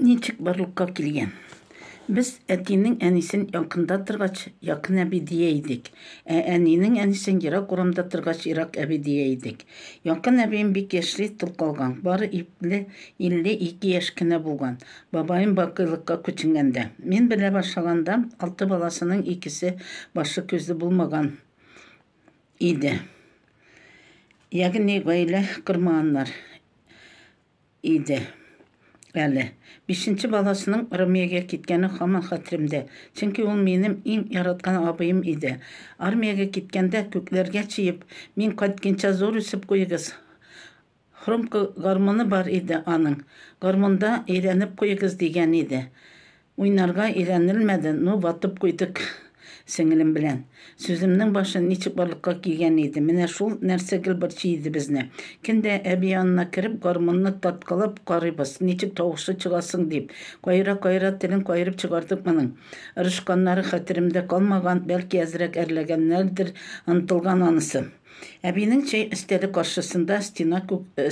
Ничек барлыкка килгән? Без әтинең әнисен якында торгач, якын әби дия идек, ә әнинең әнисен ерак урамда торгач, ерак әби дия идек. Якын әбием бик яшьли тол калган, бары ипле 52 яшь кенә булган, бабаем бакыйлыкка күченгәндә. Мин белә башлаганда, алты баласының икесе башы-күзе булмаган иде. Ягъни гаилә кормаганнар. иде әле. Бишенче баласының армиягә киткәне һаман хәтеремдә, чөнки ул минем иң яраткан абыем иде. Армиягә киткәндә, күкләргә чөеп, мин кайткенча зур үсеп куегыз, хромка гармуны бар иде аның, гармунда өйрәнеп куегыз, дигән иде. Уйнарга өйрәнелмәде, ну ватып куйдык сеңелем белән. Сүземнең башы ничек барлыкка килгән иде, менә шул нәрсә гел борчый иде безне. Көн дә әби янына кереп гармунны тарткалап карыйбыз, ничек тавышы чыга соң дип. Каера-каера телен каерып чыгардык моның. Ырышканнары хәтеремдә калмаган, бәлки әзрәк әрләгәннәрдер, онытылган анысы. Әбинең чәй өстәле каршысында стена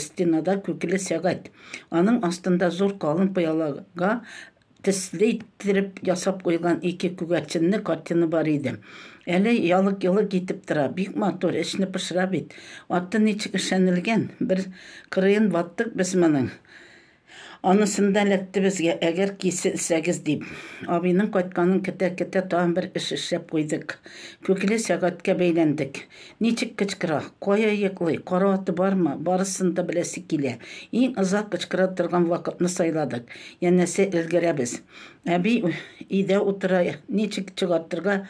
стенада күкеле сәгать. Аның астында зур калын пыялага төсле иттереп ясап куйган ике күгәрченле картина бар иде. Әле ялык-йолык итеп тора. Бик матур, эчне пошыра бит. Аты ничек эшләнелгән? Бер кырыен ваттык без моның. Анысын да эләкте безгә, әгәр киселсәгез дип. Абыйның кайтканын көтә-көтә тагын бер эш эшләп куйдык. Күкле сәгатькә бәйләндек. Ничек кычкыра, кая йоклый, караваты бармы, барысын да беләсе килә. Иң озак кычкыра торган вакытны сайладык, янәсе өлгерәбез. Әби өйдә утыра, ничек чыгартырга,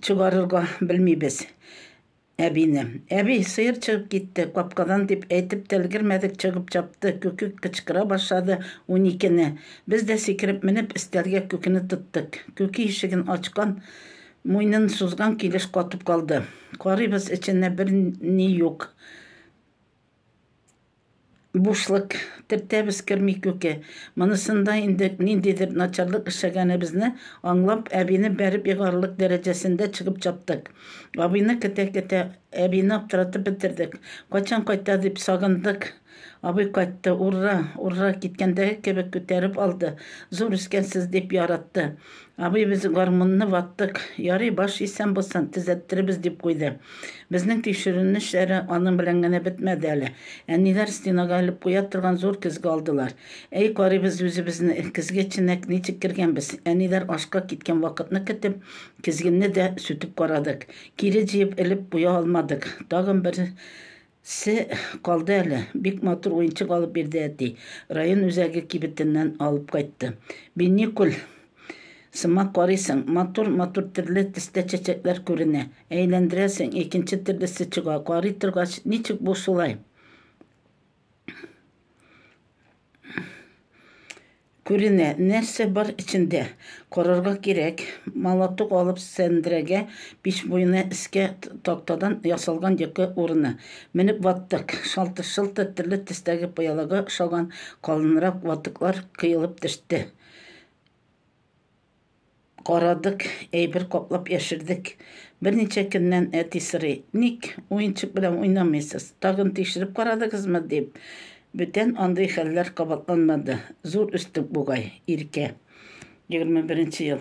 чыгарырга белмибез. Әбине. Әби, сыер чыгып китте, капкадан, дип әйтеп тә өлгермәдек, чыгып чапты, Күкек кычкыра башлады, Уникене. Без дә сикереп менеп, өстәлгә Күкене тоттык. Күке ишеген ачкан, муйнын сузган килеш катып калды. Карыйбыз, эчендә бер ни юк. Бушлык төртәбез керми күке. Монысында инде ниндидер начарлык эшләгәнебезне аңлап, әбине бәреп егарлык дәрәҗәсендә чыгып чаптык. Абыйны көтә-көтә, әбине аптыратып бетердек. Кайчан кайта дип сагындык. Абый кайтты. Урра! Урра! Киткәндәге кебек күтәреп алды. Зур үскәнсез, дип яратты. Абый, без гармунны ваттык, ярый, баш исән булсын, төзәттеребез, дип куйды. Безнең тикшеренү эшләре аның белән генә бетмәде әле. Әниләр стенага элеп куя торган зур көзге алдылар. Әй, карыйбыз үзебезне, көзге эченә ничек кергәнбез. Әниләр ашка киткән вакытны көтеп, көзгене дә сүтеп карадык. Кире җыеп элеп куя алмадык. Тагын бер Се калды әле. Бик матур уенчык алып бирде әти. Район үзәге кибетеннән алып кайтты. Биникуль сымак карыйсың, матур, матур төрле төстә чәчәкләр күренә. Әйләндерәсең, икенче төрлесе чыга. Карый торгач, ничек бу шулай? Күренә, нәрсә бар эчендә. Карарга кирәк. Молоток алып сәндрәгә, пич буена эскә тактадан ясалган йокы урыны. Менеп ваттык. Шалтыр-шылтыр төрле төстәге пыялага ошаган калынрак ватыклар кыелып төште. Карадык, әйбер каплап яшердек. Берничә көннән әти сорый, Ник уенчык белән уйнамыйсыз? Тагын тикшереп карадыгызмы? дип. Бүтән андый хәлләр кабатланмады. Зур өстек бугай, Иркә. Егерме беренче ел.